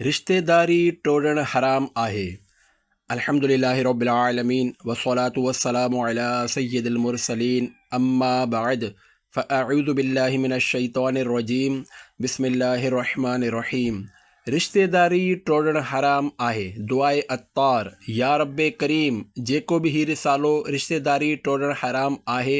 رشتيداري ٽوڙڻ حرام آهي. الحمد لله رب العالمين والصلاة والسلام علي سيد المرسلين اما بعد فاعوذ بالله من الشيطان الرجيم بسم الله الرحمن الرحيم رشتيداري ٽوڙڻ حرام آهي دعاء عطار يا رب ڪريم جيڪو به هي رسالو رشتيداري ٽوڙڻ حرام آهي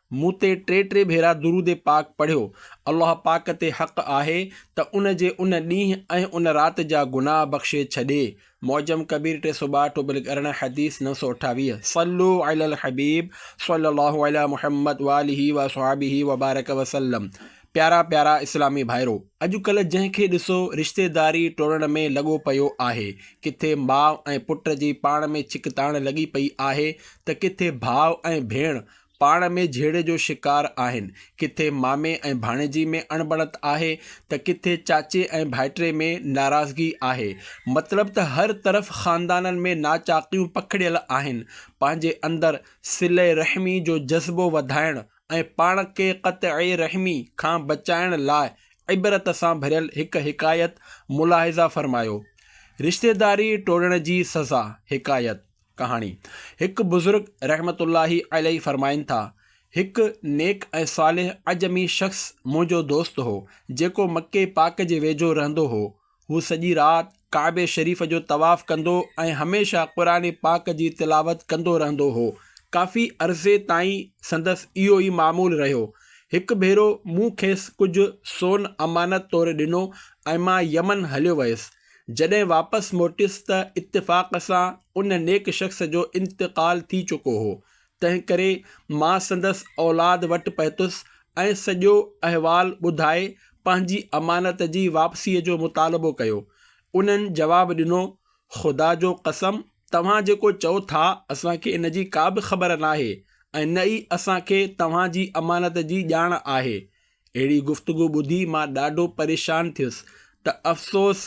مون تي ٽي ٽي ڀيرا درود پاڪ پڙهيو، الله پاڪ تي حق آهي ته ان جي ان ڏينهن ۽ ان رات جا گناهه بخشي ڇڏي، معجم ڪبير ٽي سؤ ٻاهٺ ٽوبل ارڙهن حديث نو سؤ اٺاويهه، صلو علی الحبيب صلّي الله علی محمّد وآلہ وأصحابه وبارک وسلّم پيارا پيارا اسلامي ڀائرو! اڄ ڪلهه جنهن کي ڏسو رشتيداري ٽوڙڻ ۾ لڳو پيو آهي، ڪٿي ماء ۽ پٽ جي پاڻ ۾ ڇڪتاڻ لڳي پئي آهي ته ڪٿي ڀاء ۽ ڀيڻ پاڻ ۾ جهيڙي جو شڪار آهن. ڪٿي مامي ۽ ڀاڻيجي ۾ اڻبڻت آهي ته ڪٿي چاچي ۽ ڀائٽري ۾ ناراضگي آهي. مطلب ته هر طرف خاندانن ۾ ناچاڪيون پکڙيل آهن. پنهنجي اندر صلي رحمي جو جذبو وڌائڻ ۽ پاڻ کي قطعي رحمي کان بچائڻ لاء عبرت سان ڀريل هڪ حڪايت ملاحظه فرمايو، رشتيداري ٽوڙڻ جي سزا، حڪايت، ڪهاڻي، هڪ بزرگ رحمة الله عليه فرمائن ٿا، هڪ نيڪ ۽ صالح عجمي شخص منهنجو دوست هو، جيڪو مڪي پاڪ جي ويجهو رهندو هو. هو سڄي رات ڪعبي شريف جو طواف ڪندو ۽ هميشه قرآن پاڪ جي تلاوت ڪندو رهندو هو. ڪافي عرصي تائين سندس اهو ئي معمول رهيو. هڪ ڀيرو مون کيس ڪجهه سون امانت طور ڏنو ۽ مان يمن هليو ويس. جڏهن واپس موٽيس ته اتفاق سان ان نيڪ شخص جو انتقال ٿي چڪو هو، تنهنڪري مان سندس اولاد وٽ پهتس ۽ سڄو احوال ٻڌائي پنهنجي امانت جي واپسيء جو مطالبو ڪيو. انهن جواب ڏنو، خدا جو قسم توهان جيڪو چئو ٿا اسان کي ان جي ڪا به خبر ناهي ۽ نه ئي اسان کي توهان جي امانت جي ڄاڻ آهي. اهڙي گفتگو ٻڌي مان ڏاڍو پريشان ٿيس ته افسوس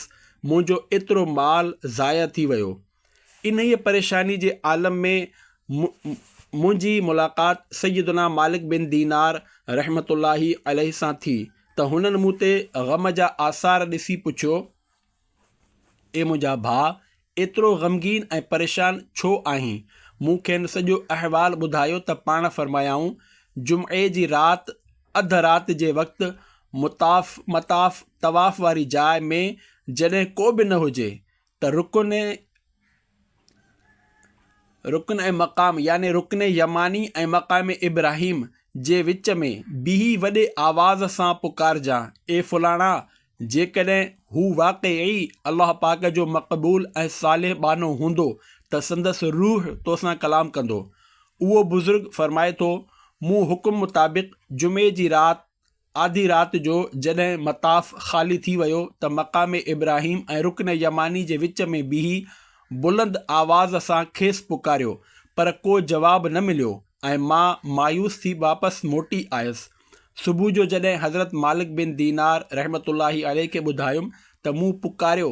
منهنجو ايترو مال ضايع ٿي ويو. انهيء پريشاني جي عالم ۾ م منهنجي ملاقات سيدنا مالڪ بن دينار رحمة الله عليه سان ٿي ته هنن مون تي غم جا آثار ڏسي پڇيو، اي منهنجا ڀاء! ايترو غمگين ۽ پريشان ڇو آهين؟ مون کين سڄو احوال ٻڌايو ته پاڻ فرمايائون، جمعي جي رات اڌ رات جي وقت مطاف، مطاف، طواف واري جاء ۾ جڏهن ڪو به نه هجي ته رڪن، رڪن ۽ مقام يعني رڪن يماني ۽ مقام ابراهيم جي وچ ۾ بيهي وڏي آواز سان پڪارجان، اي فلاڻا! جيڪڏهن هو واقعي الله پاڪ جو مقبول ۽ صالح ٻانهو هوندو ته سندس روح تو سان ڪلام ڪندو. اهو بزرگ فرمائي ٿو، مون حڪم مطابق جمعي جي رات، آڌي رات جو جڏهن مطاف خالي ٿي ويو ته مقام ابراهيم ۽ رڪن يماني جي وچ ۾ بيهي بلند آواز سان کيس پڪاريو پر ڪو جواب نه مليو ۽ مان مايوس ٿي واپس موٽي آيس. صبح جو جڏهن حضرت مالڪ بن دينار رحمة الله عليه کي ٻڌايم ته مون پڪاريو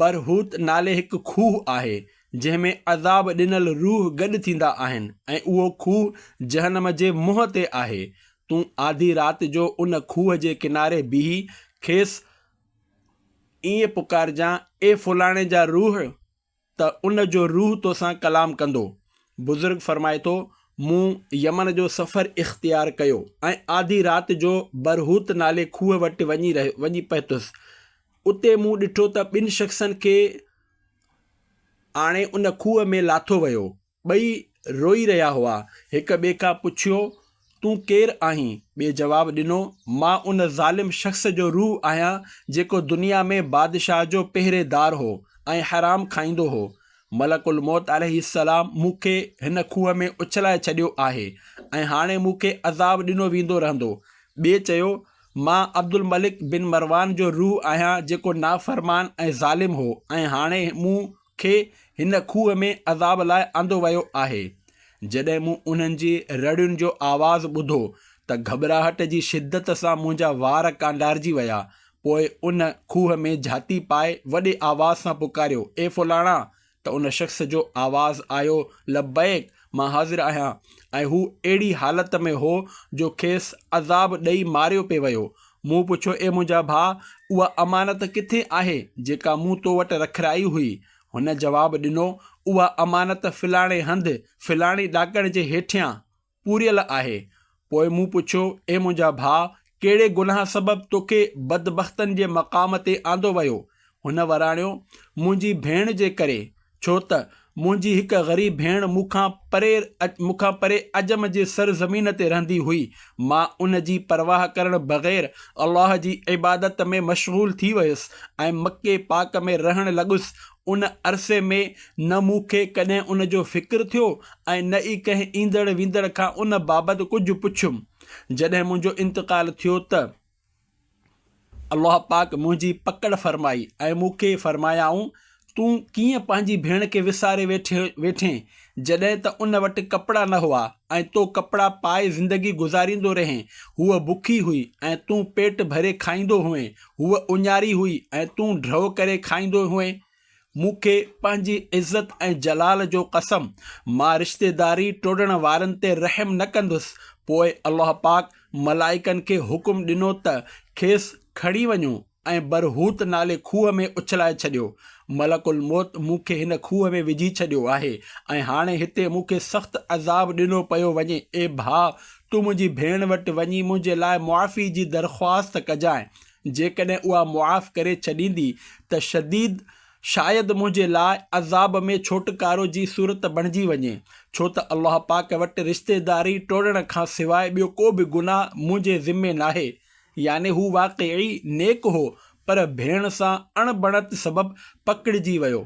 برهوت نالي هڪ کوهه آهي، جنهن ۾ عذاب ڏنل روح گڏ ٿيندا آهن ۽ اهو کوهه جهنم جي منهن تي آهي. تون آڌي رات جو ان کوهه جي ڪناري بيهي کيس ائين پڪارجان، اي فلاڻي جا روح! ته ان جو روح توسان ڪلام ڪندو. بزرگ فرمائي ٿو، مون يمن جو سفر اختيار ڪيو ۽ آڌي رات جو برهوت نالي کوهه وٽ وڃي رهيو وڃي پهتس. اتي مون ڏٺو ته ٻن شخصن کي آڻي ان کوهه ۾ لاٿو ويو. ٻئي روئي رهيا هئا. هڪ ٻئي کان پڇيو، تون ڪير آهين؟ ٻئي جواب ڏنو، مان ان ظالم شخص جو روح آهيان، جيڪو دنيا ۾ بادشاهه جو پهريدار هو ۽ حرام کائيندو هو. ملڪ الموت عليه السلام مون کي هن کوهه ۾ اڇلائي ڇڏيو آهي ۽ هاڻي مون کي عذاب ڏنو ويندو رهندو. ٻئي چيو، مان عبدالملڪ بن مروان جو روح آهيان، جيڪو نافرمان ۽ ظالم هو ۽ هاڻي مون کي هن کوهه ۾ عذاب لاء آندو ويو آهي. جڏهن مون انهن جي رڙين جو آواز ٻڌو ته گهٻراهٽ جي شدت سان منهنجا وار ڪانڊارجي ويا. پوء ان کوهه ۾ جهاتي پائي وڏي آواز سان پڪاريو، اي فلاڻا! ته ان شخص جو آواز آيو، لبيڪ! مان حاضر آهيان ۽ هو اهڙي حالت ۾ هو جو کيس عذاب ڏئي ماريو پئي ويو. مون پڇيو اي منهنجا ڀاء اها امانت ڪٿي آهي جيڪا مون تو وٽ رکرائي هئي؟ هن جواب ڏنو اها امانت فلاڻي هنڌ فلاڻي ڏاڪڻ جي هيٺيان پوريل آهي. پوء مون پڇيو، اي منهنجا ڀاء! ڪهڙي گناهه سبب توکي بدبختن جي مقام تي آندو ويو؟ هن وراڻيو، منهنجي ڀيڻ جي ڪري، ڇو ته منهنجي هڪ غريب ڀيڻ مون کان پري مون کان پري عجم جي سر زمين تي رهندي هئي، مان ان جي پرواهه ڪرڻ بغير الله جي عبادت ۾ مشغول ٿي ويس ۽ مڪي پاڪ ۾ رهڻ لڳس، ان عرصي ۾ نه مون کي ڪڏهن ان جو فڪر ٿيو ۽ نه ئي ڪنهن ايندڙ ويندڙ کان ان بابت ڪجهه پڇيم. جڏهن منهنجو انتقال ٿيو ته الله پاڪ منهنجي پڪڙ فرمائي ۽ مون کي فرمايائون تون ڪيئن پنهنجي ڀيڻ کي وساري ويٺين جڏهن ته ان وٽ ڪپڙا نه هئا ۽ تو ڪپڙا پائي زندگي گذاريندو رهين. هوء بکي هئي ۽ تون پيٽ ڀري کائيندو هئين. هوء اڃاري هئي ۽ تون ڍؤ ڪري کائيندو هئين. مون کي پنهنجي عزت ۽ جلال جو قسم، مان رشتيداري ٽوڙڻ وارن تي رحم نه ڪندس. پوء الله پاڪ ملائڪن کي حڪم ڏنو ته کيس کڻي وڃو ۽ برهوت نالي کوهه ۾ اڇلائي ڇڏيو. ملڪ الموت مون کي هن کوهه ۾ وجهي ڇڏيو آهي ۽ هاڻي هتي مون کي سخت عذاب ڏنو پيو وڃي. اي ڀاء! تون منهنجي ڀيڻ وٽ وڃي منهنجي لاء معافي جي درخواست ڪجانء، جيڪڏهن اها معاف ڪري ڇڏيندي ته شديد شايد منهنجي لاء عذاب ۾ ڇوٽڪارو جي صورت بڻجي وڃي، ڇو ته الله پاڪ وٽ رشتيداري ٽوڙڻ کان سواء ٻيو ڪو به گناهه منهنجي ذمي ناهي. يعني هو واقعي نيڪ هو، پر ڀيڻ سان اڻ بڻت سبب پڪڙجي ويو.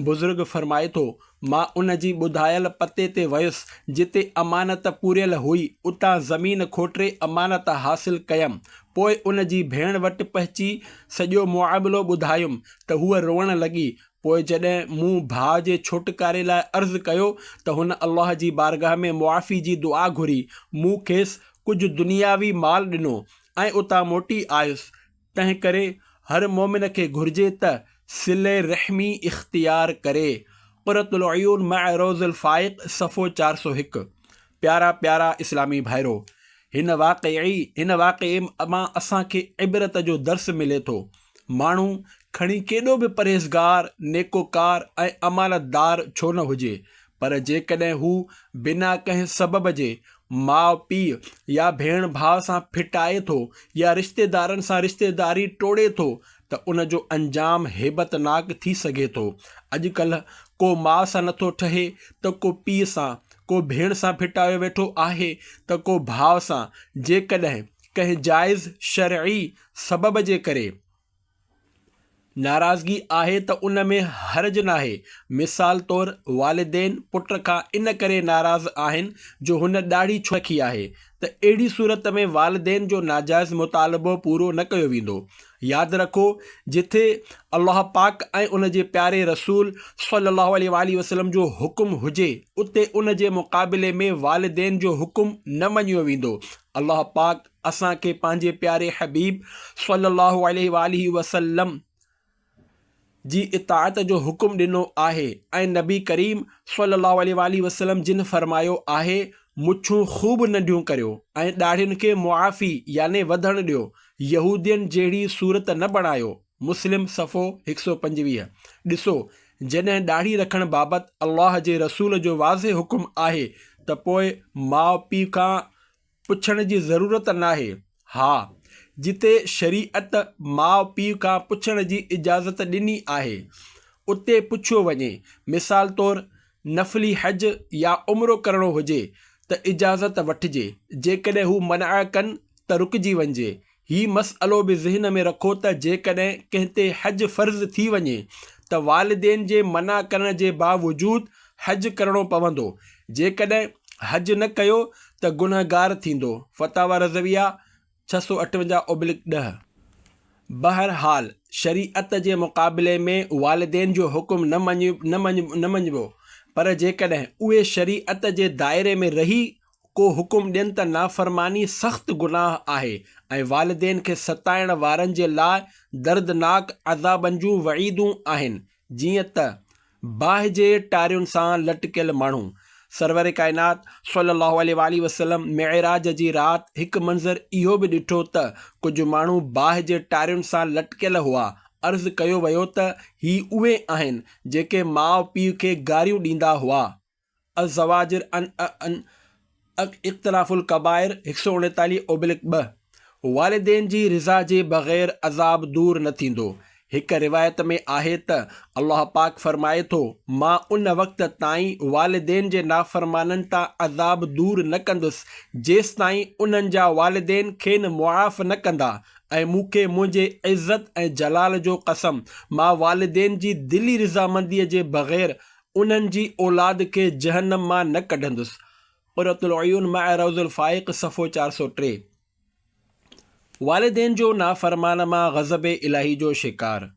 بزرگ فرمائي ٿو، مان ان جي ٻڌايل پتي تي ويس، جتي امانت پوريل هئي، اتان زمين کوٽري امانت حاصل ڪيم. پوء ان جي ڀيڻ وٽ پهچي سڄو معاملو ٻڌايم، ته هوء روئڻ لڳي. پوء جڏهن مون ڀاء جي ڇوٽڪاري لاء عرض ڪيو، ته هن الله جي بارگاهه ۾ معافي جي دعا گهري. مون کيس ڪجهه دنياوي مال ڏنو ۽ اتان موٽي آيس، تنهن ڪري هر مؤمن کي گهرجي ته صلي رحمي اختيار ڪري. قرة العيون مع روض الفائق صفحو چار سؤ هڪ پيارا پيارا اسلامي ڀائرو! هن واقعي هن واقعي مان اسان کي عبرت جو درس ملي ٿو. ماڻهو کڻي ڪيڏو به پرهيزگار، نيڪوڪار ۽ امانتدار ڇو نه هجي، پر جيڪڏهن هو بنا ڪنهن سبب جي ماء پيء يا ڀيڻ ڀاء سان ڦٽائي ٿو يا رشتيدارن سان رشتيداري ٽوڙي ٿو ته ان جو انجام هيبتناڪ ٿي سگهي ٿو. اڄڪلهه ڪو ماء سان نٿو ٺهي ته ڪو پيء سان، ڪو ڀيڻ سان ڦٽايو ويٺو آهي ته ڪو ڀاء سان، جيڪڏهن ڪنهن جائز شرعي سبب جي ڪري ناراضگي آهي ته ان ۾ حرج ناهي. مثال طور والدين پٽ کان ان ڪري ناراض آهن جو هن ڏاڙهي ڇو رکي آهي ته اهڙي صورت ۾ والدين جو ناجائز مطالبو پورو نه ڪيو ويندو. ياد رکو جٿي الله پاڪ ۽ ان جي پياري رسول صلّي اللّٰه عليه واٰله وسلّم جو حڪم هجي اتي ان جي مقابلي ۾ والدين جو حڪم نه مڃيو ويندو. الله پاڪ. اسان کي پنهنجي پياري حبيب صلّي اللّٰه عليه واٰله وسلّم جي اطاعت جو حڪم ڏنو آهي ۽ نبي ڪريم صلّي اللّٰه عليه واٰله وسلّم جن فرمايو آهي، مڇون خوب ننڍيون ڪريو ۽ ڏاڙهين کي معافي يعني وڌڻ ڏيو، يهودين جهڙي صورت نه بڻايو، مسلم صفحو هڪ سؤ پنجويهه، ڏسو جڏهن ڏاڙهي رکڻ بابت الله جي رسول جو واضح حڪم آهي ته پوء ماء پيء کان پڇڻ جي ضرورت ناهي. ها، جتي شريعت ماء پيء کان پڇڻ جي اجازت ڏني آهي، اتي پڇيو وڃي. مثال طور، نفلي حج يا عمرو ڪرڻو هجي ته اجازت وٺجي، جيڪڏهن هو منع ڪن ته رڪجي وڃجي. هي مسئلو به ذهن ۾ رکو ته جيڪڏهن ڪنهن تي حج فرض ٿي وڃي ته والدين جي منع ڪرڻ جي باوجود حج ڪرڻو پوندو، جيڪڏهن حج نه ڪيو ته گنهگار ٿيندو، فتاويٰ رضويه، ڇهه سؤ اٺونجاهه اوبلڪ ڏهه. بهرحال شريعت جي مقابلي ۾ والدين جو حڪم نه مڃبو، پر جيڪڏهن اهي شريعت جي دائري ۾ رهي ڪو حڪم ڏين ته نافرماني سخت گناهه آهي ۽ والدين کي ستائڻ وارن جي لاء دردناڪ عذابن جون وعيدون آهن جيئن ته باهه جي ٽارين سان لٽڪيل ماڻهو. سرور ڪائنات صلّي اللّٰه عليه واٰله وسلّم معراج جي رات هڪ منظر اهو به ڏٺو ته ڪجهه ماڻهو باهه جي ٽارين سان لٽڪيل هئا، عرض ڪيو ويو ته هي اهي آهن جيڪي ماء پيء کي گاريون ڏيندا هئا. الزواجر عن عن اقتراف الڪبائر هڪ سؤ اڻيتاليهه اوبلڪ ٻه والدين جي رضا جي بغير عذاب دور نه ٿيندو هڪ روايت ۾ آهي ته الله پاڪ فرمائي ٿو مان ان وقت تائين والدين جي نافرمانن تان عذاب دور نه ڪندس جيستائين انهن جا والدين کين معاف نه ڪندا ۽ مون کي منهنجي عزت ۽ جلال جو قسم مان والدين جي دلي رضامندي جي بغير انهن جي اولاد کي جهنم مان نه ڪڍندس، قرة العيون مع روض الفائق صفحو چار سؤ ٽي. والدين جو نافرمان مان غضب الاهي جو شڪار.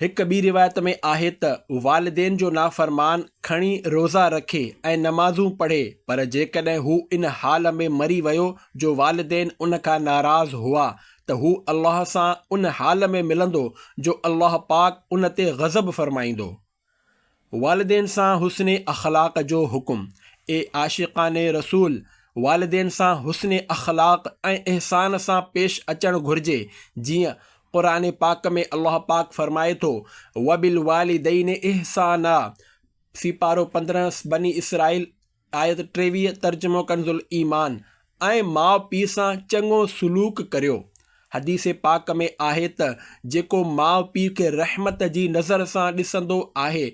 هڪ ٻي روايت ۾ آهي ته والدين جو نافرمان کڻي روزا رکي ۽ نمازون پڙهي پر جيڪڏهن هو ان حال ۾ مري ويو جو والدين ان کان ناراض هئا ته هو الله سان ان حال ۾ ملندو جو الله پاڪ ان تي غضب فرمائيندو. والدين سان حسن اخلاق جو حڪم، اي عاشقان رسول! والدين سان حسن اخلاق ۽ احسان سان پيش اچڻ گهرجي، جيئن قرآن پاڪ ۾ الله پاڪ فرمائي ٿو، وبالوالدين احسانا، سيپارو پندرهن، بني اسرائيل، آيت ٽيويهه ترجمو ڪنز الايمان، ۽ ماء پيء سان چڱو سلوڪ ڪريو. حديث پاڪ ۾ آهي ته جيڪو ماء پيء کي رحمت جي نظر سان ڏسندو آهي،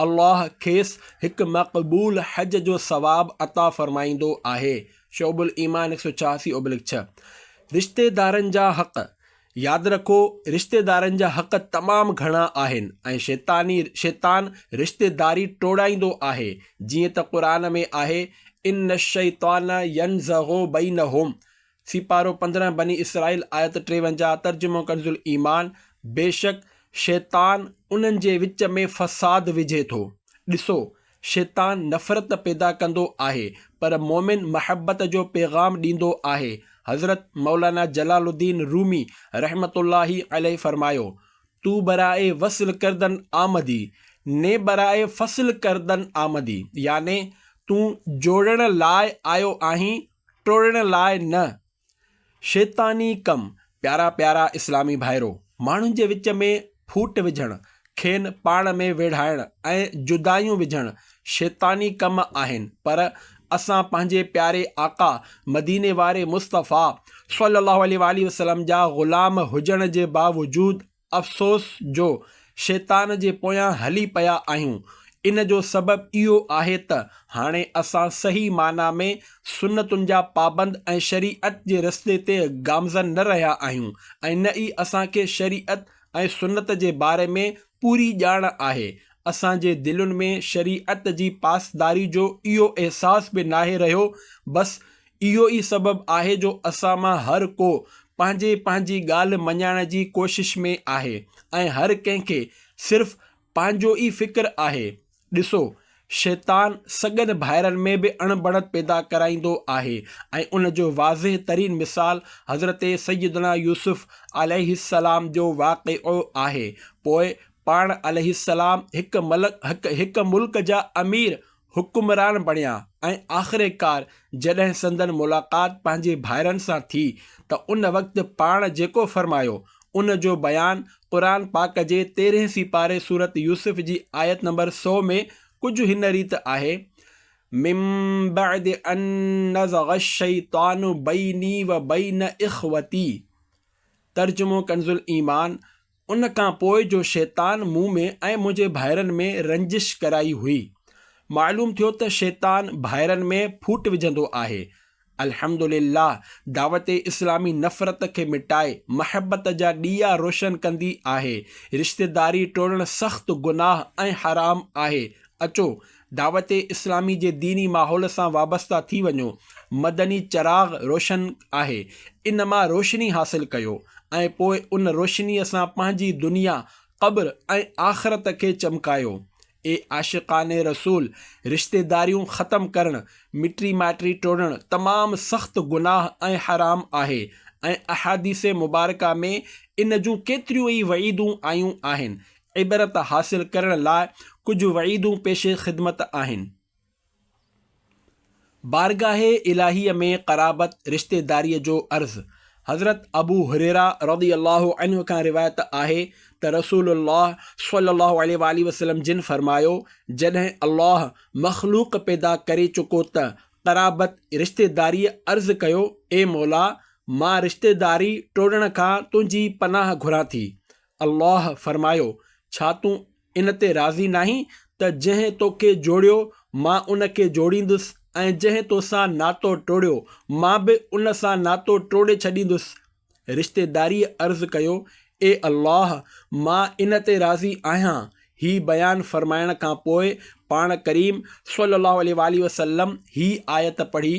الله کيس هڪ مقبول حج جو ثواب عطا فرمائيندو آهي، شعب الايمان هڪ سؤ ڇهاسي اوبلڪ ڇهه، رشتيدارن جا حق، ياد رکو رشتيدارن جا حق تمام گهڻا آهن ۽ شيطاني، شيطان، رشتيداري ٽوڙائيندو آهي جيئن ته قرآن ۾ آهي، ان الشيطان ينزغ بينهم، سيپارو پندرهن بني اسرائيل آيت ٽيونجاهه ترجمو ڪنز الايمان، بيشڪ شيطان انهن جي وچ ۾ فساد وجهي ٿو، ڏسو! شيطان نفرت پيدا ڪندو آهي پر مؤمن محبت جو پيغام ڏيندو آهي حضرت مولانا جلال الدين رومي رحمة الله عليه فرمايو، تو برائي وصل کردن آمدي، ني برائي فصل کردن آمدي يعني تون جوڙڻ لاء آيو آهين ٽوڙڻ لاء نه. شيطاني ڪم، پيارا پيارا اسلامي ڀائرو! ماڻهن جي وچ ۾ ڦوٽ وجهڻ، کين پاڻ ۾ ويڙهائڻ ۽ جدايون وجهڻ شيطاني ڪم آهن پر اسان پنهنجي پياري آقا مديني واري مصطفٰي صلّي اللّٰه عليه واٰله وسلّم جا غلام هجڻ جي باوجود افسوس جو شيطان جي پويان هلي پيا آهيون، ان جو سبب اهو آهي ته هاڻي اسان صحيح معنيٰ ۾ سنتن جا پابند ۽ شريعت جي رستي تي گامزن نه رهيا آهيون ۽ نه ئي اسان کي شريعت ۽ سنت جي باري ۾ پوري ڄاڻ آهي، اسان جي دلين ۾ شريعت جي پاسداري جو اهو احساس به ناهي رهيو، بس اهو ئي سبب آهي جو اسان مان هر ڪو پنهنجي پنهنجي ڳالهه مڃائڻ جي ڪوشش ۾ آهي ۽ هر ڪنهن کي صرف پنهنجو ئي فڪر آهي. ڏسو، شيطان سڳن ڀائرن ۾ به اڻ بڻت پيدا ڪرائيندو آهي ۽ ان جو واضح ترين مثال حضرت سيدنا يوسف عليه السلام جو واقعو آهي. پوء پاڻ عليه السلام هڪ ملڪ هڪ هڪ ملڪ جا امير حڪمران بڻيا ۽ آخرڪار جڏهن سندن ملاقات پنهنجي ڀائرن سان ٿي ته ان وقت پاڻ جيڪو فرمايو ان جو بيان قرآن پاڪ جي تيرهين سيپاري سورة يوسف جي آيت نمبر سؤ ۾ ڪجهه هن ريت آهي، من بعد ان نزغ الشيطان بيني وبين اخوتي، ترجمو ڪنزالايمان، ان کان پوء جو شيطان مون ۾ ۽ منهنجي ڀائرن ۾ رنجش ڪرائي هئي. معلوم ٿيو ته شيطان ڀائرن ۾ ڦوٽ وجهندو آهي. الحمد لله دعوت اسلامي نفرت کي مٽائي محبت جا ڏيئا روشن ڪندي آهي. رشتيداري ٽوڙڻ سخت گناهه ۽ حرام آهي. اچو دعوت اسلامي جي ديني ماحول سان وابسته ٿي وڃو، مدني چراغ روشن آهي، ان مان روشني حاصل ڪيو ۽ پوء ان روشنيء سان پنهنجي دنيا، قبر ۽ آخرت کي چمڪايو. اي عاشقان رسول! رشتيداريون ختم ڪرڻ، مٽي مائٽي ٽوڙڻ تمام سخت گناهه ۽ حرام آهي ۽ احاديث مبارڪه ۾ ان جون ڪيتريون ئي وعيدون آيون آهن. عبرت حاصل ڪرڻ لاء ڪجهه وعيدون پيش خدمت آهن. بارگاهه الاهيء ۾ قرابت، رشتيداريء جو عرض، حضرت ابو هريره رضي الله عنه کان روايت آهي ته رسول الله صلي الله عليه واٰله وسلم جن فرمايو، جڏهن الله مخلوق پيدا ڪري چڪو ته قرابت، رشتيداريء، عرض ڪيو، اي مولا! مان رشتيداري ٽوڙڻ کان تنهنجي پناهه گهران ٿي. الله فرمايو، ڇا تون ان تي راضي ناهين ته جنهن تو کي جوڙيو، مان ان کي جوڙيندس ۽ جنهن تو سان ناتو ٽوڙيو، مان به ان سان ناتو ٽوڙي ڇڏيندس. رشتيداريء عرض ڪيو، اي الله! مان ان تي راضي آهيان. هي بيان فرمائڻ کان پوء پاڻ ڪريم صلّي اللّٰه عليه واٰله وسلّم هي آيت پڙهي،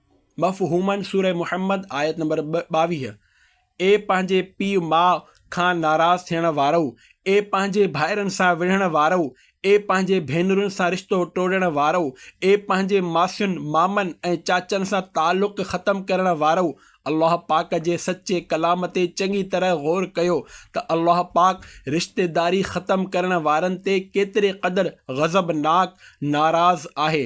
مفهومن سورة محمد آيت نمبر ٻاويهه، اي پنهنجي پيء ماء کان ناراض ٿيڻ وارؤ، اي پنهنجي ڀائرن سان وڙهڻ وارؤ، اي پنهنجي ڀينرن سان رشتو ٽوڙڻ وارؤ، اي پنهنجي ماسين، مامن ۽ چاچن سان تعلق ختم ڪرڻ وارؤ، الله پاڪ جي سچي ڪلام تي چڱي طرح غور ڪيو ته الله پاڪ رشتيداري ختم ڪرڻ وارن تي ڪيتري قدر غضبناڪ، ناراض، آهي.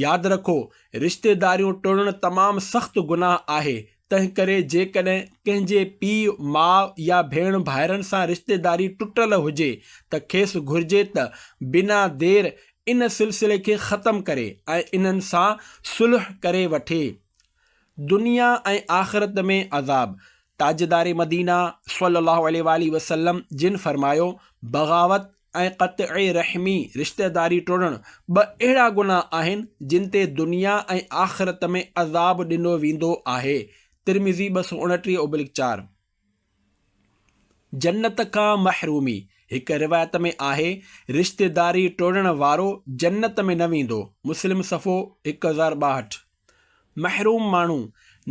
ياد رکو! رشتيداريون ٽوڙڻ تمام سخت گناهه آهي، تنهنڪري جيڪڏهن ڪنهن جي پيء، ماء يا ڀيڻ ڀائرن سان رشتيداري ٽٽل هجي ته کيس گهرجي ته بنا دير ان سلسلي کي ختم ڪري ۽ انهن سان صلح ڪري وٺي. دنيا ۽ آخرت ۾ عذاب، تاجدار مدينه صلّي اللّٰه عليه واٰله وسلّم جن فرمايو، بغاوت، ۽ قطع رحمي، رشتيداري ٽوڙڻ، ٻه اهڙا گناهه آهن جن تي دنيا ۽ آخرت ۾ عذاب ڏنو ويندو آهي، ترمذي ٻه سؤ اڻٽيهه اوبلڪ چار. جنت کان محرومي، هڪ روايت ۾ آهي، رشتيداري ٽوڙڻ وارو جنت ۾ نه ويندو، مسلم صفحو هڪ هزار ٻاهٺ. محروم ماڻهو،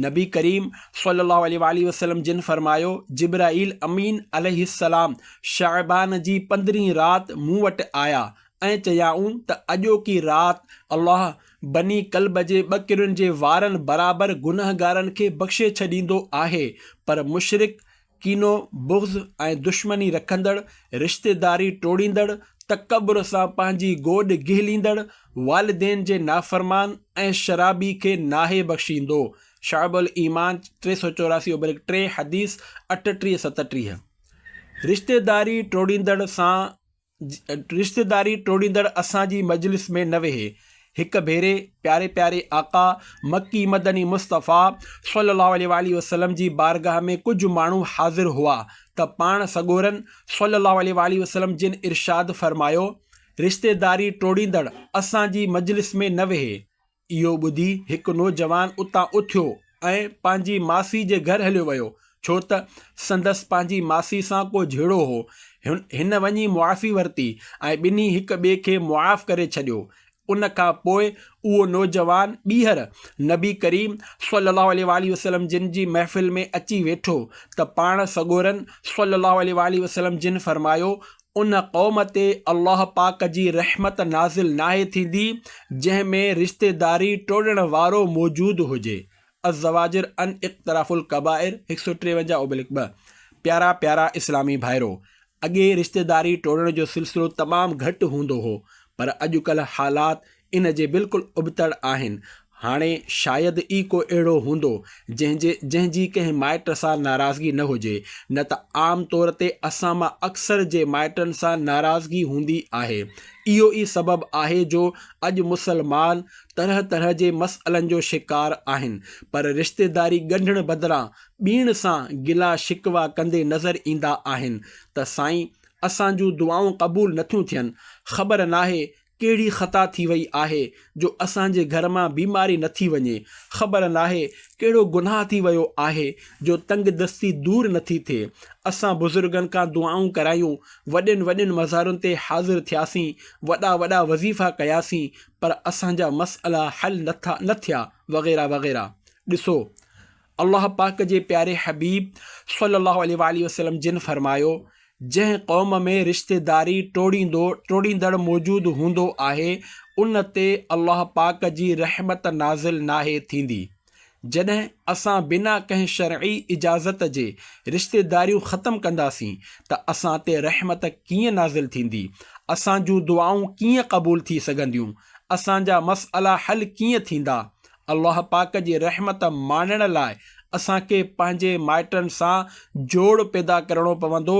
نبي ڪريم صلي الله عليه واٰله وسلم جن فرمايو، جبرائيل امين عليه السلام شعبان جي پندرهين رات مون وٽ آيا ۽ چيائون ته اڄوڪي رات الله بني ڪلب جي ٻه ڪرين جي وارن برابر گنهگارن کي بخشي ڇڏيندو آهي پر مشرڪ ڪينو، بغض ۽ دشمني رکندڙ، رشتيداري ٽوڙيندڙ، تڪبر سان پنهنجي گوڏ گهليندڙ، والدين جي نافرمان ۽ شرابي کي ناهي بخشيندو، شعب الايمان، ٽي سؤ چوراسي اوبرڪ ٽي، حديث اٺٽيهه، ستٽيهه، رشتيداري ٽوڙيندڙ سان رشتيداري ٽوڙيندڙ اسان جي مجلس ۾ نه ويهي. هڪ ڀيري پياري پياري آقا مڪي مدني مصطفيٰ صلّي اللّٰه عليه واٰله وسلّم جي بارگاھ ۾ ڪجھ ماڻهو حاضر هئا ته پاڻ سڳورن صلّي اللّٰه عليه واٰله وسلّم جن ارشاد فرمايو، رشتيداري ٽوڙيندڙ اسان جي مجلس ۾ نه ويهي. اهو ٻڌي هڪ نوجوان اتان اٿيو ۽ پنهنجي ماسي جي گهر هليو ويو، ڇو ته سندس پنهنجي ماسي سان ڪو جهيڙو هو. هن وڃي معافي ورتي ۽ ٻنهي هڪ ٻئي کي معاف ڪري ڇڏيو. ان کان پوء اهو نوجوان ٻيهر نبي ڪريم صلّي اللّٰه عليه واٰله وسلّم جن جي محفل ۾ اچي ويٺو ته پاڻ سڳورن صلّي اللّٰه عليه واٰله وسلّم جن فرمايو، ان قوم تي الله پاڪ جي رحمت نازل ناهي ٿيندي جنهن ۾ رشتيداري ٽوڙڻ وارو موجود هجي الزواجر عن اقتراف الڪبائر هڪ سؤ ٽيونجاهه اوبلڪ ٻه پيارا پيارا اسلامي ڀائرو! اڳي رشتيداري ٽوڙڻ جو سلسلو تمام گهٽ هوندو هو پر اڄڪلهه حالات ان جي بلڪل ابتڙ آهن. هاڻي شايد ئي ڪو اهڙو هوندو، جنهن جي جنهن جي ڪنهن مائٽ سان ناراضگي نه هجي، نه ته عام طور تي اسان مان اڪثر جي مائٽن سان ناراضگي هوندي آهي. اهو ئي سبب آهي جو اڄ مسلمان طرح طرح جي مسئلن جو شڪار آهن، پر رشتيداري ڳنڍڻ بدران ٻين سان گلا شڪوا ڪندي نظر ايندا آهن ته سائين اسان جون دعائون قبول نٿيون ٿين، خبر ناهي ڪهڙي خطا ٿي وئي آهي جو اسان جي گهر مان بيماري نه ٿي وڃي. خبر ناهي ڪهڙو گناهه ٿي ويو آهي جو تنگ دستي دور نه ٿي ٿئي. اسان بزرگن کان دعائون ڪرايون، وڏين وڏين مزارن تي حاضر ٿياسين، وڏا وڏا وظيفا ڪياسين پر اسان جا مسئلا حل نه ٿا نه ٿيا وغيره وغيره. ڏسو الله پاڪ جي پياري حبيب صلّي الله عليه واٰله وسلّم جن فرمايو، جنهن قوم ۾ رشتيداري ٽوڙيندو، ٽوڙيندڙ، موجود هوندو آهي، ان تي الله پاڪ جي رحمت نازل ناهي ٿيندي. جڏهن اسان بنا ڪنهن شرعي اجازت جي رشتيداريون ختم ڪنداسين ته اسان تي رحمت ڪيئن نازل ٿيندي، اسان جون دعائون ڪيئن قبول ٿي سگهنديون، اسان جا مسئلا حل ڪيئن ٿيندا، الله پاڪ جي رحمت ماڻڻ لاء اسان کي پنهنجي مائٽن سان جوڙ پيدا ڪرڻو پوندو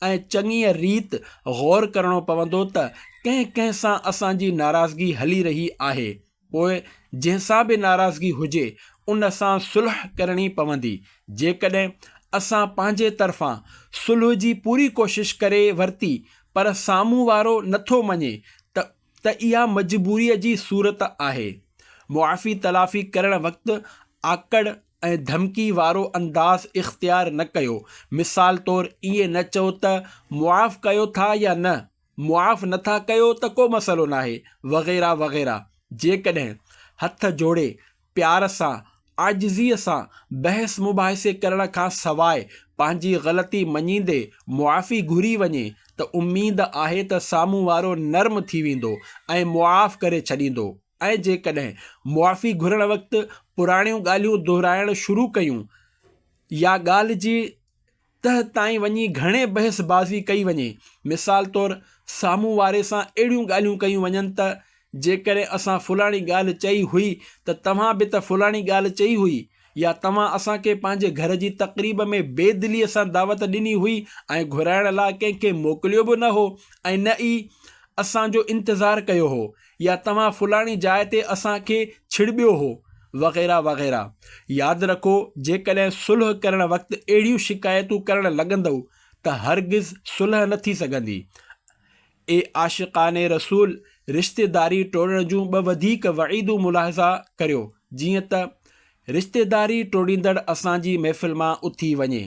۽ چڱيء ريت غور ڪرڻو پوندو ته ڪنهن ڪنهن سان اسان جي ناراضگي هلي رهي آهي پوء جنهن سان به ناراضگي هجي ان سان صلح ڪرڻي پوندي جيڪڏهن اسان پنهنجي طرفان صلح جي پوري ڪوشش ڪري ورتي پر سامهون وارو نٿو مڃي ته ته اها مجبوريء جي صورت آهي. معافي تلافي ڪرڻ وقت آڪڙ ۽ ڌمڪي وارو انداز اختيار نه ڪيو. مثال طور ائين نه چئو ته معاف ڪيو ٿا يا نه، معاف نٿا ڪيو ته ڪو مسئلو ناهي وغيره وغيره. جيڪڏهن هٿ جوڙي پيار سان، عاجزيء سان بحث مباحثي ڪرڻ کان سواء پنهنجي غلطي مڃيندي معافي گهري وڃي ته اميد آهي ته سامهون وارو نرم ٿي ويندو ۽ معاف ڪري ڇڏيندو ۽ جيڪڏهن معافي گهرڻ وقت پراڻيون ڳالهيون دهرائڻ شروع ڪيون يا ڳالهه جي تهه تائين وڃي گهڻي بحث بازي ڪئي وڃي. مثال طور سامهون واري سان اهڙيون ڳالهيون ڪيون وڃن ته جيڪڏهن اسان فلاڻي ڳالهه چئي هئي ته توهان به ته فلاڻي ڳالهه چئي هئي يا توهان اسان کي پنهنجي گهر جي تقريب ۾ بي دليء سان دعوت ڏني هئي ۽ گهرائڻ لاء ڪنهن کي موڪليو به نه هو ۽ نه ئي اسان جو انتظار ڪيو هو. يا توهان فلاڻي جاء تي اسان کي ڇڙٻيو هو وغيره وغيره ياد رکو جيڪڏهن صلح ڪرڻ وقت اهڙيون شڪايتون ڪرڻ لڳندؤ ته هرگز صلح نه ٿي سگهندي اي عاشقان رسول رشتيداري ٽوڙڻ جون ٻه وڌيڪ وعيدون ملاحظه ڪريو جيئن ته رشتيداري ٽوڙيندڙ اسان جي محفل مان اٿي وڃي.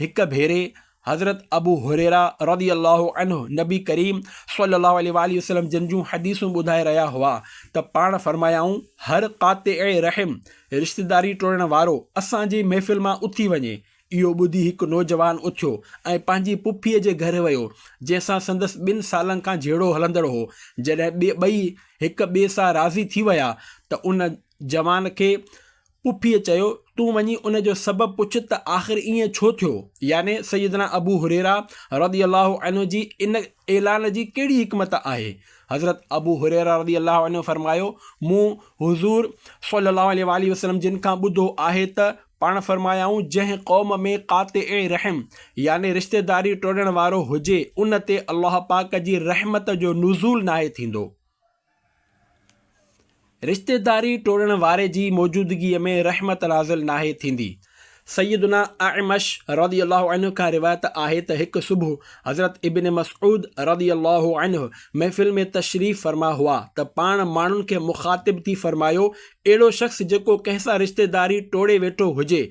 هڪ ڀيري حضرت ابو هريره رضي الله عنه نبي ڪريم صلي الله عليه واٰله وسلم جن جون حديثون ٻڌائي رهيا هئا ته پاڻ فرمايائون، هر قاطع رحم، رشتيداري ٽوڙڻ وارو، اسان جي محفل مان اٿي وڃي. اهو ٻڌي هڪ نوجوان اٿيو ۽ پنهنجي پڦيء جي گهر ويو، جنهن سان سندس ٻن سالن کان جهيڙو هلندڙ هو. جڏهن ٻئي هڪ ٻئي سان راضي ٿي ويا ته ان. جوان کي پڦيء چيو، تون وڃي ان جو سبب پڇ ته آخر ائين ڇو ٿيو؟ يعني سيدنا ابو هريره رضي الله عنه جي ان اعلان جي ڪهڙي حڪمت آهي؟ حضرت ابو هريره رضي الله عنه فرمايو، مون حضور صلّي الله عليه واٰله وسلّم جن کان ٻڌو آهي ته پاڻ فرمايائون، جنهن قوم ۾ قاطع رحم يعني رشتيداري ٽوڙڻ وارو هجي، ان تي الله پاڪ جي رحمت جو نزول ناهي ٿيندو. رشتيداري ٽوڙڻ واري جي موجودگيء ۾ رحمت نازل ناهي ٿيندي. سيدنا اعمش رضي الله عنه کان روايت آهي ته هڪ صبح حضرت ابن مسعود رضي الله عنه محفل ۾ تشريف فرما هئا ته پاڻ ماڻهن کي مخاطب ٿي فرمايو، اهڙو شخص جيڪو ڪنهن سان رشتيداري ٽوڙي ويٺو هجي،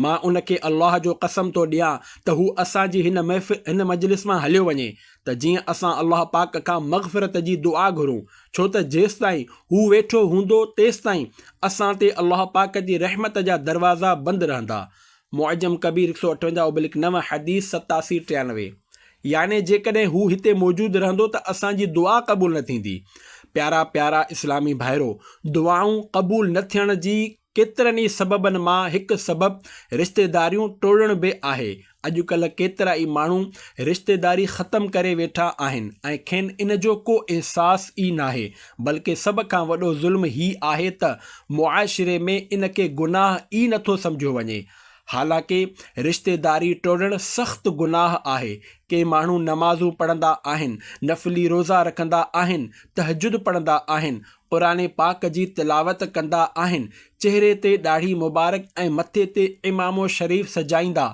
مان ان کي الله جو قسم ٿو ڏيان ته هو اسان جي هن مجلس مان هليو وڃي. ته جيئن اسان الله پاڪ کان مغفرت جي دعا گهرون ڇو ته جيستائين هو ويٺو هوندو تيستائين اسان تي الله پاڪ جي رحمت جا دروازا بند رهندا معجم ڪبير هڪ سؤ اٺونجاهه ابلڪ نو حديث ستاسي ٽيانوي يعني جيڪڏهن هو هتي موجود رهندو ته اسان جي دعا قبول نه ٿيندي پيارا پيارا اسلامي ڀائرو دعائون قبول نه ٿيڻ جي ڪيترن ئي سببن مان هڪ سبب رشتيداريون ٽوڙڻ به آهي. اڄڪلهه ڪيترا ئي ماڻهو رشتيداري ختم ڪري ويٺا آهن ۽ کين ان جو ڪو احساس ئي ناهي. بلڪه سڀ کان وڏو ظلم هي آهي ته معاشري ۾ ان کي گناهه ئي نٿو سمجهيو وڃي. حالانڪه رشتيداري ٽوڙڻ سخت گناهه آهي. ڪي ماڻهو نمازون پڙهندا آهن، نفلي روزا رکندا آهن، تهجد پڙهندا آهن، قرآن پاڪ جي تلاوت ڪندا آهن، چهري تي ڏاڙهي مبارڪ ۽ مٿي تي عمامو شريف سجائيندا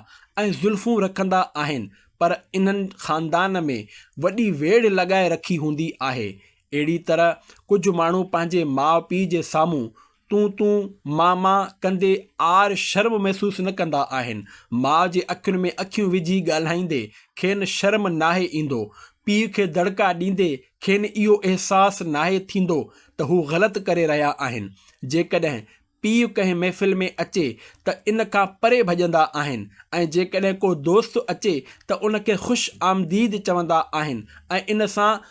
۽ زلفون رکندا آهن، پر انهن خاندان ۾ وڏي ويڙهه لڳائي رکي هوندي آهي. اهڙي طرح ڪجهه ماڻهو پنهنجي ماء پيء جي سامهون تون تون ماء ماء ڪندي عار شرم محسوس نه ڪندا آهن، ماء جي اکين ۾ اکيون وجهي ڳالهائيندي کين شرم ناهي ايندو، پيء کي دڙڪا ڏيندي کين اهو احساس ناهي ٿيندو ته هو غلط ڪري رهيا آهن. جيڪڏهن پيء ڪنهن محفل ۾ اچي ته ان کان پري ڀڄندا آهن ۽ جيڪڏهن ڪو دوست اچي ته ان کي خوش آمديد چوندا آهن ۽ ان سان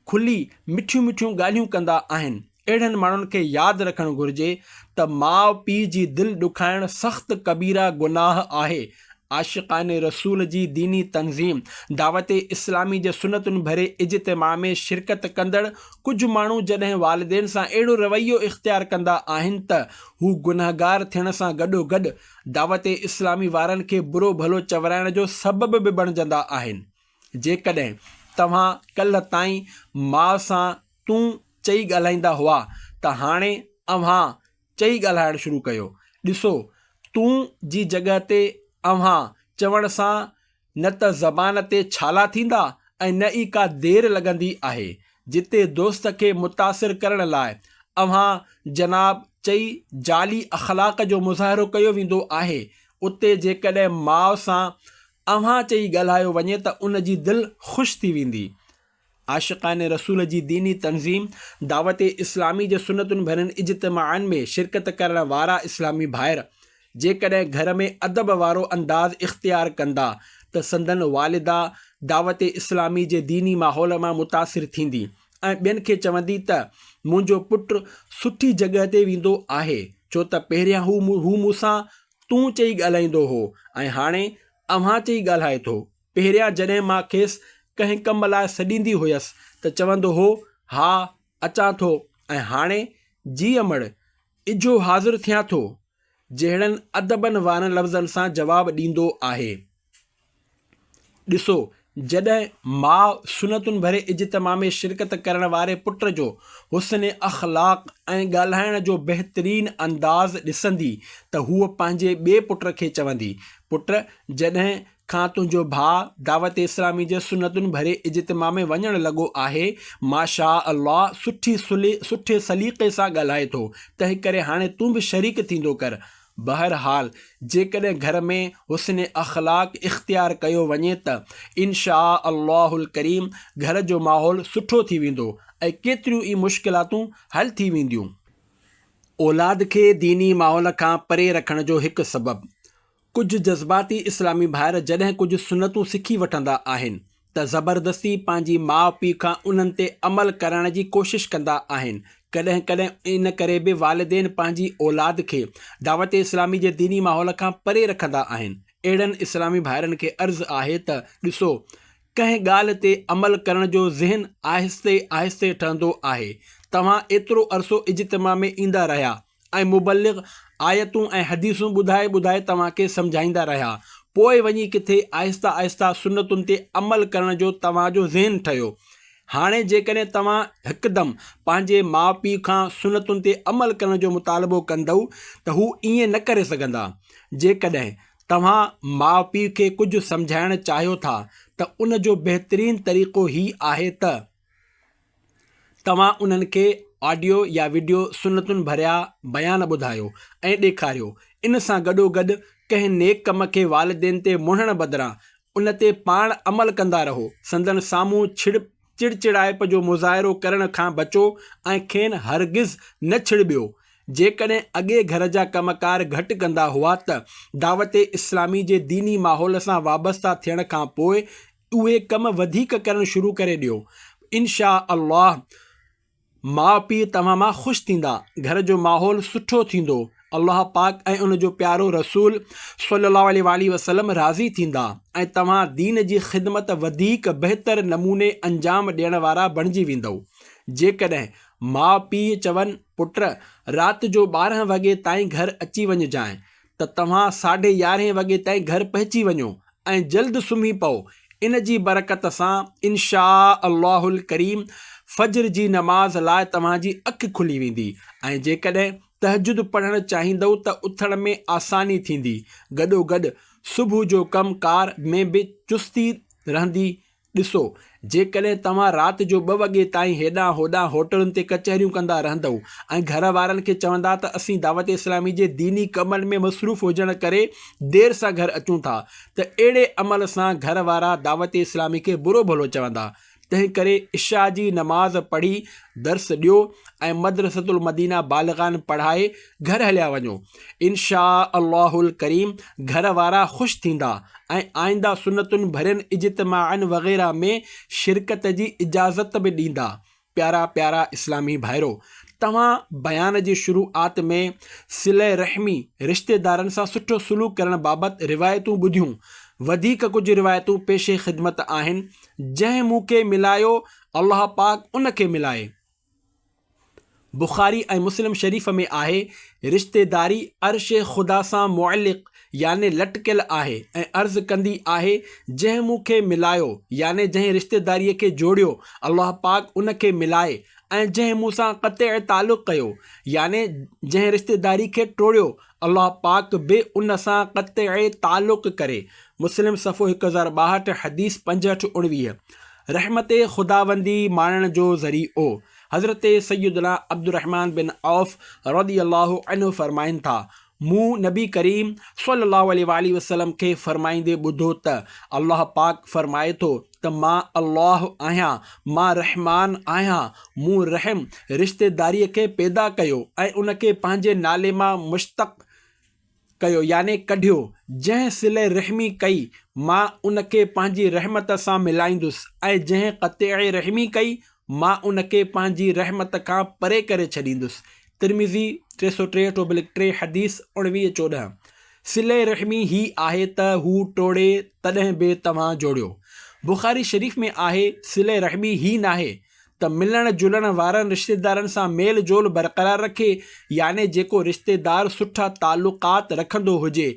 کلي مٺيون مٺيون ڳالهيون ڪندا آهن. اهڙن ماڻهن کي ياد رکڻ گهرجي ته ماء پيء جي دل ڏکائڻ سخت ڪبيره گناهه آهي. عاشقان رسول جي ديني تنظيم دعوت اسلامي جي سنتن ڀري اجتماع ۾ شرڪت ڪندڙ ڪجهه ماڻهو جڏهن والدين سان اهڙو رويو اختيار ڪندا آهن ته هو گنهگار ٿيڻ سان گڏوگڏ دعوت اسلامي وارن کي برو ڀلو چورائڻ جو سبب به بڻجندا آهن. جيڪڏهن توهان ڪلهه تائين ماء سان تون چئي ڳالهائيندا هئا ته هاڻي اوهان چئي ڳالهائڻ شروع ڪيو. ڏسو، تون جي جڳهه تي اوهان چوڻ سان نه ته زبان تي ڇالا ٿيندا ۽ نه ئي ڪا دير لڳندي آهي. جتي دوست کي متاثر ڪرڻ لاء اوهان جناب چئي جعلي اخلاق جو مظاهرو ڪيو ويندو آهي، اتي جيڪڏهن ماء سان اوهان چئي ڳالهايو وڃي ته ان جي دل خوش ٿي ويندي. عاشقان رسول جي ديني تنظيم دعوت اسلامي جي سنتن ڀرين اجتماعن ۾ شرڪت ڪرڻ وارا اسلامي ڀائر جيڪڏهن گهر ۾ ادب وارو انداز اختيار ڪندا ته سندن والده دعوت اسلامي جي ديني ماحول مان متاثر ٿيندي ۽ ٻين کي چوندي ته منهنجو پٽ سٺي جڳهه تي ويندو آهي ڇو ته پهريان هو مون سان تون چئي ڳالهائيندو هو ۽ هاڻي اوهان چئي ڳالهائي ٿو. پهريان جڏهن مان کيس ڪنهن ڪم لاء سڏيندي هيس ته چوندو هو، ها، اچان ٿو ۽ هاڻي، جي امڙ، اجهو حاضر ٿيان ٿو، جهڙن ادبن وارن لفظن سان جواب ڏيندو آهي. ڏسو، جڏهن ماء سنتن ڀري اجتماع ۾ شرڪت ڪرڻ واري پٽ جو حسن اخلاق ۽ ڳالهائڻ جو بهترين انداز ڏسندي ته هوء پنهنجي ٻئي پٽ کي چوندي، پٽ، جڏهن کان تنهنجو ڀاء دعوت اسلامي جي سنتن ڀري اجتماع ۾ وڃڻ لڳو آهي ماشاء الله سٺي سلي سٺي سليقي سان ڳالهائي ٿو تنهنڪري هاڻي تون به شريڪ ٿيندو ڪر بهرحال جيڪڏهن گهر ۾ حسن اخلاق اختيار ڪيو وڃي ته انشاء الله الڪريم گهر جو ماحول سٺو ٿي ويندو ۽ ڪيتريون ئي مشڪلاتون حل ٿي وينديون. اولاد کي ديني ماحول کان پري رکڻ جو هڪ سبب ڪجهه جذباتي اسلامي ڀائر جڏهن ڪجهه سنتون سکي وٺندا آهن ته زبردستي پنهنجي ماء پيء کان انهن تي عمل ڪرائڻ جي ڪوشش ڪندا آهن. ڪڏهن ڪڏهن ان ڪري به والدين پنهنجي اولاد کي دعوت اسلامي جي ديني ماحول کان پري رکندا آهن. اهڙن اسلامي ڀائرن کي عرض آهي ته ڏسو ڪنهن ڳالهه تي عمل ڪرڻ جو ذهن آهستي آهستي ٺهندو آهي. توهان ايترو عرصو اجتماع ۾ ايندا رهيا ۽ مبلغ آيتون ۽ حديثون ٻڌائي ٻڌائي توهان کي سمجهائيندا رهيا، پوء وڃي ڪٿي آهسته آهسته سنتن تي عمل ڪرڻ جو توهان جو ذهن ٺهيو. هاڻي جيڪڏهن توهان هڪدم پنهنجي ماء پيء کان سنتن تي عمل ڪرڻ جو مطالبو ڪندؤ ته هو ائين نه ڪري سگهندا. جيڪڏهن توهان ماء پيء کي ڪجهه سمجهائڻ چاهيو ٿا ته ان جو بهترين طريقو هي آهي ته. توهان انهن کي آڊيو يا وڊيو سنتن ڀريا بيان ٻڌايو ۽ ڏيکاريو. ان سان گڏوگڏ ڪنهن نيڪ ڪم کي والدين تي مڙهڻ بدران ان تي پاڻ عمل ڪندا رهو. سندن سامهون ڇڙ چڙچڙائپ جو مظاهرو ڪرڻ کان بچو ۽ کين هرگز نه ڇڙٻيو. جيڪڏهن اڳي گهر جا ڪم ڪار گهٽ ڪندا هئا ته دعوت اسلامي جي ديني ماحول سان وابسته ٿيڻ کان پوء اهي ڪم وڌيڪ ڪرڻ شروع ڪري ڏيو انشاء الله ماء پيء توهان مان خوش ٿيندا گهر جو ماحول سٺو ٿيندو الله پاڪ ۽ ان جو پيارو رسول صلي الله عليه وآله وسلم راضي ٿيندا ۽ توهان دين جي خدمت وڌيڪ بهتر نموني انجام ڏيڻ وارا بڻجي ويندؤ جيڪڏهن ماء پيء چون پٽ رات جو ٻارهن وڳي تائين گهر اچي وڃجانء ته توهان ساڍي يارهين وڳي تائين گهر پهچي وڃو ۽ جلد سمهي پئو، ان جي برڪت سان انشاء الله الڪريم فجر جي نماز لاء توهان جي اک کلي ويندي ۽ جيڪڏهن تهجد پڙهڻ چاهيندؤ ته اٿڻ ۾ آساني ٿيندي، گڏوگڏ صبح جو ڪم ڪار ۾ به چستي رهندي، ڏسو، جيڪڏهن توهان رات جو ٻه وڳي تائين هيڏانهن هوڏانهن هوٽلن تي ڪچهريون ڪندا رهندؤ ۽ گهر وارن کي چوندا ته اسين دعوت اسلامي جي ديني ڪمن ۾ مصروف هجڻ ڪري دير سان گهر اچون ٿا ته اهڙي عمل سان گهر وارا دعوت اسلامي کي برو ڀلو چوندا تنهنڪري عشاء جي نماز پڙهي درس ڏيو ۽ مدرسة المدينه بالغان پڙهائي گهر هليا وڃو. انشاء الله الڪريم گهر وارا خوش ٿيندا ۽ آئنده سنتن ڀرين اجتماعن وغيره ۾ شرڪت جي اجازت به ڏيندا پيارا پيارا اسلامي ڀائرو توهان بيان جي شروعات ۾ صله رحمي رشتيدارن سان سٺو سلوڪ ڪرڻ بابت روايتون ٻڌيون وڌيڪ ڪجهه روايتون پيش خدمت آهن جنهن مون کي ملايو الله پاڪ ان کي ملائي بخاري ۽ مسلم شريف ۾ آهي، رشتيداري عرش خدا سان معلق يعني لٽڪيل آهي ۽ عرض ڪندي آهي، جنهن مون کي ملايو يعني جنهن رشتيداريء کي جوڙيو، الله پاڪ ان کي ملائي ۽ جنهن مون سان قطع تعلق ڪيو يعني جنهن رشتيداري کي ٽوڙيو، الله پاڪ به ان سان قطعي تعلق ڪري. مسلم صفحو هڪ هزار ٻاهٺ حديث پنجهٺ اڻويهه رحمت خداوندي ماڻڻ جو ذريعو حضرت سيدنا عبدالرحمان بن عوف رضي الله عنه فرمائن ٿا، مون نبي ڪريم صلي الله عليه واٰله وسلم کي فرمائيندي ٻڌو ته الله پاڪ فرمائي ٿو ته. ته مان الله آهيان، مان رحمان آهيان، مون رحم، رشتيداريء، کي پيدا ڪيو ۽ ان کي پنهنجي نالي مان مشتق ڪيو يعني ڪڍيو، جنهن صلي رحمي ڪئي، مان ان کي پنهنجي رحمت سان ملائيندس ۽ جنهن قطيعي رحمي ڪئي، مان ان کي پنهنجي رحمت کان پري ڪري ڇڏيندس، ترمذي، ٽي سؤ ٽيهٺ اوبلڪ ٽي حديث اڻويهه چوڏهن، صلي رحمي هي آهي ته هو ٽوڙي تڏهن به توهان جوڙيو، بخاري شريف ۾ آهي، صلي رحمي هي ناهي ته ملڻ جلڻ وارن رشتيدارن سان ميل جول برقرار رکي، يعني جيڪو رشتيدار سٺا تعلقات رکندو هجي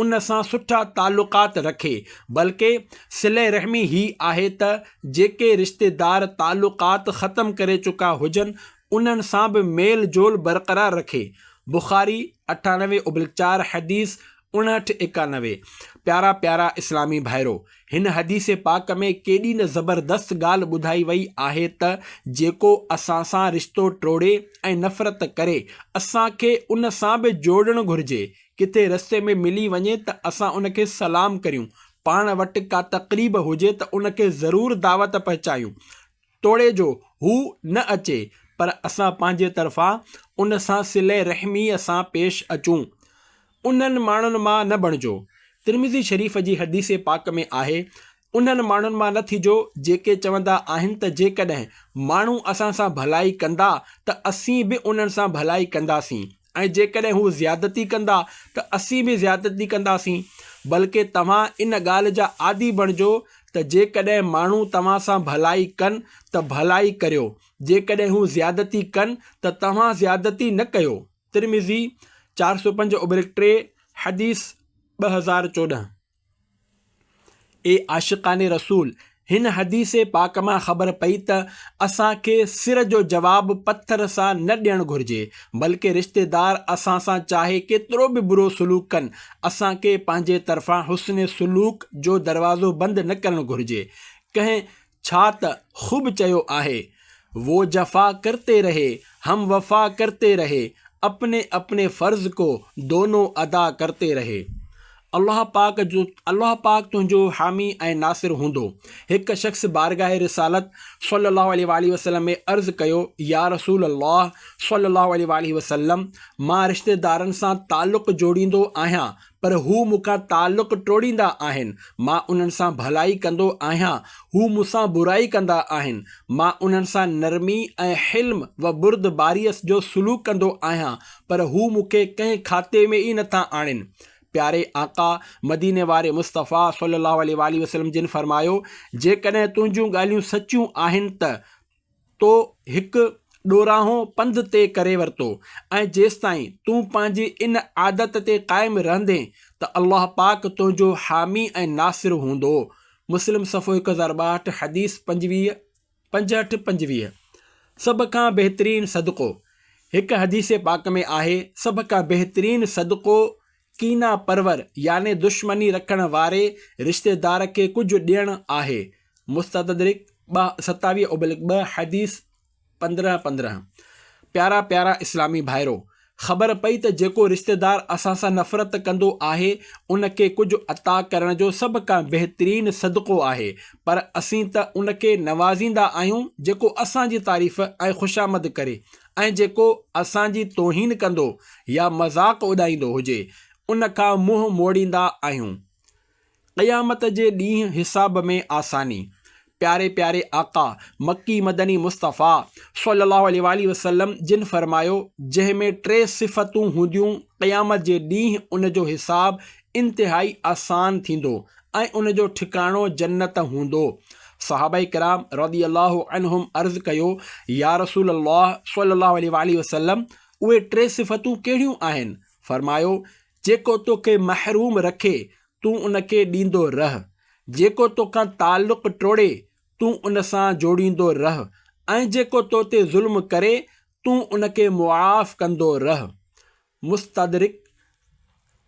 ان سان سٺا تعلقات رکي، بلڪه صلي رحمي هي آهي ته جيڪي رشتيدار تعلقات ختم ڪري چڪا هجن انهن سان به ميل جول برقرار رکي. بخاري، اٺانوي اوبلڪ چار حديث اڻهٺ ايڪانوي، پيارا پيارا اسلامي ڀائرو! هن حديث پاڪ ۾ ڪيڏي نه زبردست ڳالهه ٻڌائي وئي آهي ته جيڪو اسان سان رشتو ٽوڙي ۽ نفرت ڪري اسان کي ان سان به جوڙڻ گهرجي، ڪٿي رستي ۾ ملي وڃي ته اسان ان کي سلام ڪريون، پاڻ وٽ ڪا تقريب هجي ته ان کي ضرور دعوت پهچايون. توڙي جو هو نه اچي پر اسان پنهنجي طرفان ان سان صلي رحميء سان پيش اچون. انهن ماڻهن مان نه بڻجو. ترمذي شريف جي حديث پاڪ ۾ آهي، انهن ماڻهن مان نه ٿجو جيڪي چوندا آهن ته جيڪڏهن ماڻهو اسان سان ڀلائي ڪندا ته اسين به انهن سان ڀلائي ڪنداسين. ۽ جيڪڏهن هو زيادتي ڪندا ته اسين به زيادتي ڪنداسين بلڪه توهان ان ڳالهه جا عادي بڻجو ته جيڪڏهن ماڻهو توهان سان ڀلائي ڪن ته ڀلائي ڪريو جيڪڏهن هو زيادتي ڪن ته توهان زيادتي نه ڪيو ترمذي چار سؤ پنج اوبرڪ ٽي حديث ٻه هزار چوڏهن اي عاشقان رسول! هن حديث پاڪ مان خبر پئي ته اسان کي سر جو جواب پٿر سان نه ڏيڻ گهرجي، بلڪه رشتيدار اسان سان چاهي ڪيترو به برو سلوڪ ڪن، اسان کي پنهنجي طرفان حسن سلوڪ جو دروازو بند نه ڪرڻ گهرجي. ڪنهن ڇا ته خوب چيو آهي، وو جفا ڪرتي رهي، هم وفا ڪرتي رهي، اپني اپني فرض ڪو دونو ادا ڪرتي رهي. الله پاڪ جو الله پاڪ تنهنجو حامي ۽ ناصر هوندو. هڪ شخص بارگاهه رسالت صلّي الله عليه واٰله وسلّم ۾ عرض ڪيو، يا رسول الله صلّي الله عليه واٰله وسلّم! مان رشتيدارن سان تعلق جوڙيندو آهيان پر هو مون کان تعلق ٽوڙيندا آهن، مان انهن سان ڀلائي ڪندو آهيان، هو مون سان برائي ڪندا آهن، مان انهن سان نرمي ۽ حلم و بردباريء جو سلوڪ ڪندو آهيان، پر هو مون کي ڪنهن کاتي ۾ ئي نٿا آڻين. پياري آقا مديني واري مصطفيٰ صلّي اللّٰه عليه واٰله وسلّم جن فرمايو، جيڪڏهن تنهنجون ڳالهيون سچيون آهن ته، تو هڪ ڏورانهو پنڌ طئي ڪري ورتو ۽ جيستائين تون پنهنجي ان عادت تي قائم رهندين ته الله پاڪ تنهنجو حامي ۽ ناصر هوندو. مسلم صفحو هڪ هزار ٻاهٺ حديث پنجويهه، پنجهٺ، پنجويهه، سڀ کان بهترين صدقو، هڪ حديث پاڪ ۾ آهي، سڀ کان بهترين صدقو، ڪينا پرور يعني دشمني رکڻ واري رشتيدار کي ڪجهه ڏيڻ آهي، مستدرڪ ٻه، ستاويهه ابلڪ ٻه، حديث پندرهن، پندرهن، پيارا پيارا اسلامي ڀائرو! خبر پئي ته جيڪو رشتيدار اسان سان نفرت ڪندو آهي، ان کي ڪجهه عطا ڪرڻ جو سڀ کان بهترين صدقو آهي، پر اسين ته ان کي نوازيندا آهيون جيڪو اسان جي تعريف ۽ خوشامد ڪري، ۽ جيڪو اسان جي توهين ڪندو يا مذاق اڏائيندو هجي ان کان منهن موڙيندا آهيون. قيامت جي ڏينهن حساب ۾ آساني. پياري پياري آقا مڪي مدني مصطفيٰ صلّي اللّٰه عليه واٰله وسلّم جن فرمايو، جنهن ۾ ٽي صفتون هونديون قيامت جي ڏينهن ان جو حساب انتهائي آسان ٿيندو ۽ ان جو ٺڪاڻو جنت هوندو. صحابه ڪرام رضي الله عنهم عرض ڪيو، يا رسول الله صلي الله عليه واٰله وسلم! اهي ٽي صفتون ڪهڙيون آهن؟ فرمايو، جيڪو توکي محروم رکي، تون ان کي ڏيندو رهه، جيڪو توکان تعلق ٽوڙي، تون ان سان جوڙيندو رهه ۽ جيڪو تو تي ظلم ڪري، تون ان کي معاف ڪندو رهه. مستدرڪ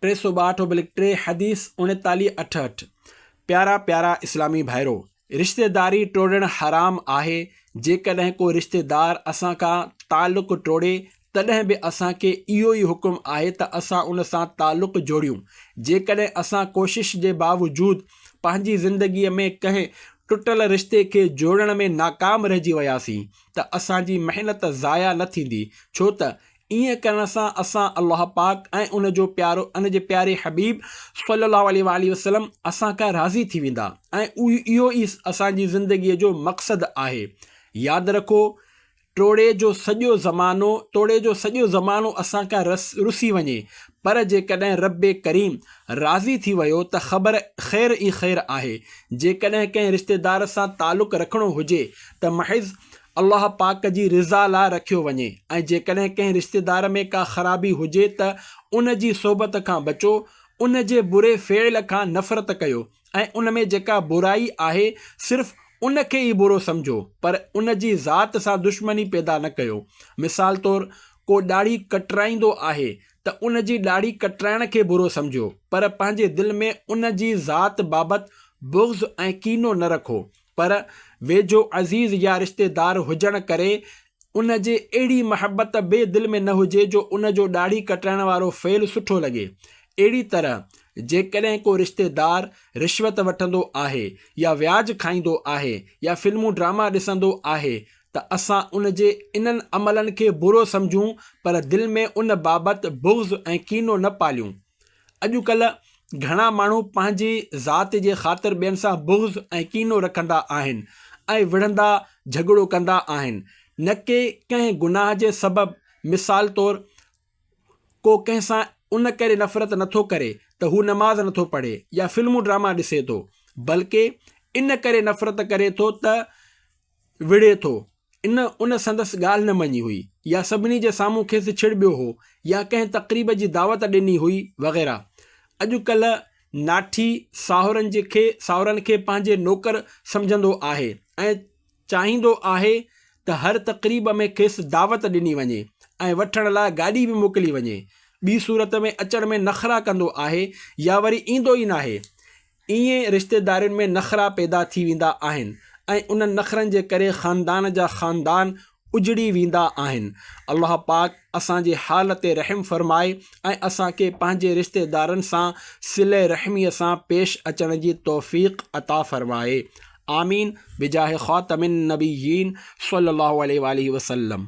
ٽي سؤ ٻاهٺ اوبلڪ ٽي حديث اڻيتاليهه اٺهٺ، پيارا پيارا اسلامي ڀائرو! رشتيداري ٽوڙڻ حرام آهي، جيڪڏهن ڪو رشتيدار اسان کان تعلق ٽوڙي تڏهن به اسان کي اهو ئي حڪم آهي ته اسان ان سان تعلق جوڙيون، جيڪڏهن اسان ڪوشش جي باوجود پنهنجي زندگي ۾ ڪنهن ٽٽل رشتي کي جوڙڻ ۾ ناڪام رهجي وياسين ته اسان جي محنت ضايع نه ٿيندي ڇو ته ايئن ڪرڻ سان اسان الله پاڪ ۽ ان جو پيارو ان جي پياري حبيب صلّي الله عليه واٰله وسلّم اسان کان راضي ٿي ويندا ۽ اهو ئي اسان جي زندگيء جو مقصد آهي. ياد رکو ٽوڙي جو سڄو زمانو توڙي جو سڄو زمانو اسان کان رسي وڃي پر جيڪڏهن ربّ ڪريم راضي ٿي ويو ته خبر خير ئي خير آهي. جيڪڏهن ڪنهن رشتيدار سان تعلق رکڻو هجي ته محض الله پاڪ جي رضا لاء رکيو وڃي ۽ جيڪڏهن ڪنهن رشتيدار ۾ ڪا خرابي هجي ته ان جي صحبت کان بچو، ان جي بري فعل کان نفرت ڪيو ۽ ان ۾ جيڪا برائي آهي صرف ان کي ئي برو سمجهو پر ان جي ذات سان دشمني پيدا نه ڪيو. مثال طور ڪو ڏاڙهي ڪٽرائيندو آهي ته ان جي ڏاڙهي ڪٽرائڻ کي برو سمجهو پر پنهنجي دل ۾ ان جي ذات بابت بغض ۽ ڪينو نه رکو پر ويجهو عزيز يا رشتيدار هجڻ ڪري ان جي اهڙي محبت به دل ۾ نه هجي جو ان جو ڏاڙهي ڪٽرائڻ وارو فعل سٺو لڳي. اهڙي طرح جيڪڏهن ڪو رشتيدار رشوت وٺندو آهي يا وياج کائيندو آهي يا فلمون ڊراما ڏسندو آهي ته اسان ان جي انهن عملن کي برو سمجهون پر دل ۾ ان بابت بغض ۽ ڪينو نه پاليون. اڄ ڪلهه گهڻا ماڻهو پنهنجي ذات جي خاطر ٻين سان بغض ۽ ڪينو رکندا آهن ۽ وڙهندا جهڳڙو ڪندا آهن نه ڪي ڪنهن گناهه جي سبب مثال طور ڪو ڪنهن سان ان ڪري نفرت نٿو ڪري ته هو نماز نٿو پڙهي يا فلمون ڊراما ڏسي ٿو بلڪه ان ڪري نفرت ڪري ٿو ته وڙهي ٿو ان ان سندس ڳالهه نه مڃي هئي يا سڀني جي سامهون کيس ڇڙٻيو هو يا ڪنهن تقريب جي دعوت ڏني هئي وغيره. اڄ ڪلهه ناٺي ساهورن جي کي ساهورن کي پنهنجي نوڪر سمجهندو آهي ۽ چاهيندو آهي ته هر تقريب ۾ کيس دعوت ڏني وڃي ۽ وٺڻ لاء گاڏي به موڪلي وڃي. ٻي صورت ۾ اچڻ ۾ نخرا ڪندو آهي يا وري ايندو ئي ناهي. ايئن رشتيدارين ۾ نخرا پيدا ٿي ويندا آهن ۽ انهن نخرن جي ڪري خاندان جا خاندان اجڙي ويندا آهن. الله پاڪ اسان جي حال تي رحم فرمائي ۽ اسان کي پنهنجي رشتيدارن سان صله رحميء سان پيش اچڻ جي توفيق عطا فرمائي. آمين بجاه خاتم النبيين صلّي اللّٰه عليه واٰله وسلّم.